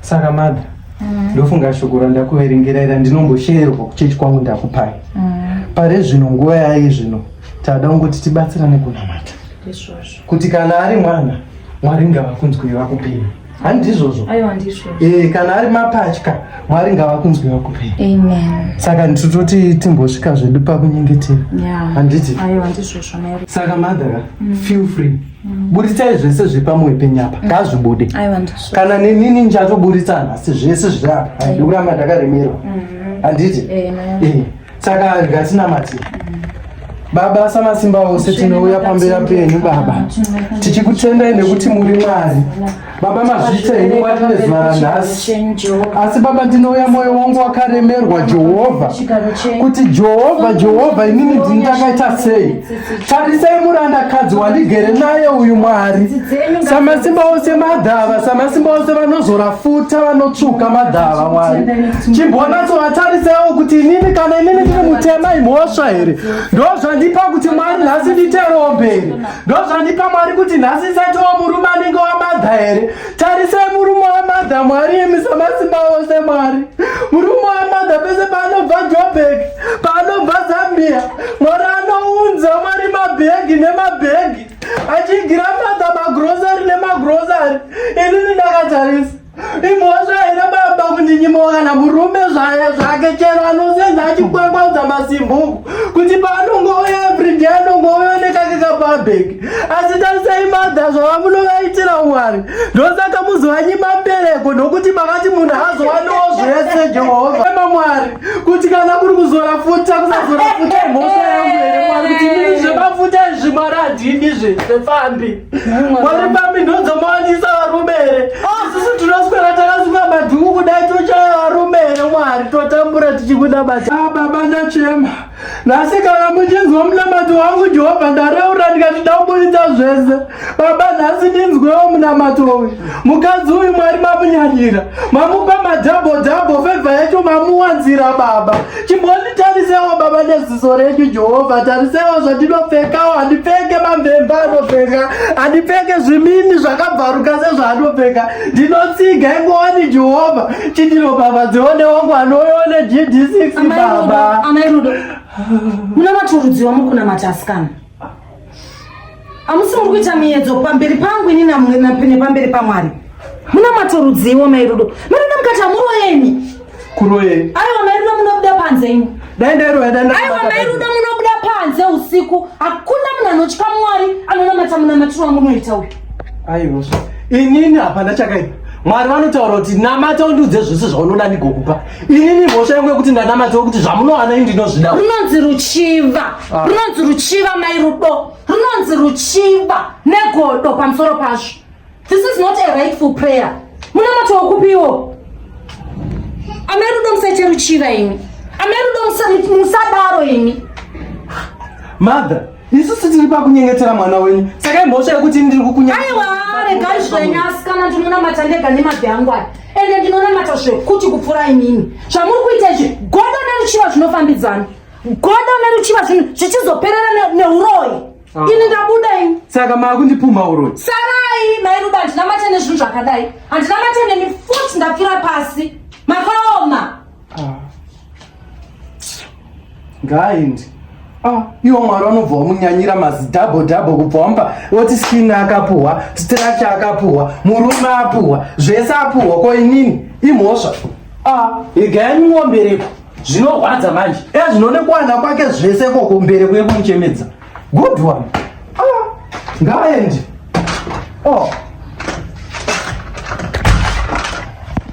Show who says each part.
Speaker 1: saka mother mm. ndofunga shoko randakuverengera ira ndinombosheerwa kuchechi kwangu ndakupai mm. pare zvino nguva yaye zvino tada kungoti tibatsirane kunamata kuti kana ari mwana mwari ngavakunzwei vakupei handizvozvo ee eh, kana ari mapatya mwari ngavakunzwei vakupei saka nditototi timbosvika zvedu pakunyengetera handiti saka madhara mm. feel free buritsai zvese zviri pamwoyo penyu apa mm. ngazvibude kana nenini ndichatoburitsa nhasi zvese zviri apa ndikuramba ndakaremerwa mm-hmm. handiti eh, eh, saka ndikatinamatira mm. baba samasimba ose tinouya pambera penyu baba tichikutendai nekuti muri mwari Baba mazvita henyu wati nezuva ranhasi, asi Baba ndinouya mwoyo wangu wakaremerwa Jehovha, kuti Jehovha, Jehovha, inini ndini ndakaita sei? Tarisai murandakadzi wandigere naye uyu Mwari, samasimba ose madhava, samasimba ose vanozora futa, vanotsvuka madhava, Mwari chimbonatsovatarisawo kuti inini kana inini ndiri mutema imhosva here? Ndozvandipa kuti Mwari nhasi nditeromberi, ndozvandipa mwari kuti nhasi isati wa murume anenge wamadha here tarisai murume wamadha mwari imi samasimba ose mwari murume wamadha pese paanobva jobek paanobva zambia mwari anounza mwari mabhegi nemabhegi achigira madha magrosari nemagrosari inini ndakatarisa Imhosva here baba kundinyimoka kana murume zvaye zvake chero anosenza achikwangwaudza masimbuku kuti paanongouya everyday anongouya nekake kapabheki asi tarisai madha zvavamunovaitira wari ndosaka muzivanyi mapereko nokuti makati munhu azowaniwo zvese jehovha ema mwari kuti kana kuri kuzora futa kusazora futa imhosva yangu here mwari kuti mii zvemafuta izvi mwari handidi zvese fambi Wari pambi ndodzomawanyisa varume here? Ah! Isusu tinoswera takasunga madhuku kudai tochaya varume here mwari totambura tichikuda bata. Ah baba ndachema. Nhasi kana muchinzwa munamato wangu Jehovha ndareura ndikati ndaburitsa zvese. Baba nhasi ndinzwewo munamato uyu. Mukadzi uyu mwari mamunyanyira. mamupa madhabho dhabho fevha yacho mamuwanzira baba chimbonditarisewo baba neziso renyu jehovha tarisewo zvandinopfekawo handipfeke mamvemba anopfeka handipfeke zvimini zvakabvaruka sezvaanopfeka ndinotsiga ingowani jehovha chindiro baba dzione wangu anoyone gd6 baba amai rudo muna maturudziwa mukunamata asikana Hamusi muri kuita miyedzo pamberi pangu ini nepamberi paMwari. Muna matorudziwo mairudo. Mairudo mukati hamuroyeni. Kuroyeni. Aiwa mairudo munobuda panze imi. Dai ndairoya dai ndairoya. Aiwa mairudo munobuda panze usiku. Hakuna munhu anotya Mwari anonamata munamatirwa munoita uyu. Aiwa. Inini hapana chakaipa. Mwari vanotaura kuti namata undiudze zvese zvaunoda ndigokupa. Inini mhosva yangu yekuti ndanamata kuti zvamunowana ini ndinozvida. Runonzi ruchiva. Ah. Runonzi ruchiva mai rudo. Runonzi ruchiva negodo pamusoro pazvo. This is not a rightful prayer. Munamata wakupiwo. Amai rudo musaite ruchiva imi. Amai rudo musadaro imi. Mother isusu tiri pakunyengetera mwana wenyu saka imhosva yekuti ini ndiri kukunyaaiwa regai zvenyu asikana ndinonamata ndega nemabvi angu aya ende ndinonamata zvekuti kupfuura inini zvamuri kuita izvi godo neruchiva zvinofambidzana godo neruchiva zvinhu zvichizoperera neuroyi ah. ini ndabuda ini saka maakundipumha uroyi sarai mairuba handinamate nezvinhu zvakadai handinamate nemi futi ndapfira pasi makaoma Ah. Ngaaendi. Ah, iwo mwari vanobva wamunyanyira mazidhabho dhabho kubva wamba woti skini akapuhwa structure akapuhwa murume apuhwa zvese apuhwa ko inini imhosva ah, igaya nyimombereko zvinorwadza manje ezvinonekwana kwake zvese koko mbereko yekumuchemedza good one ah, ngaaendi oh.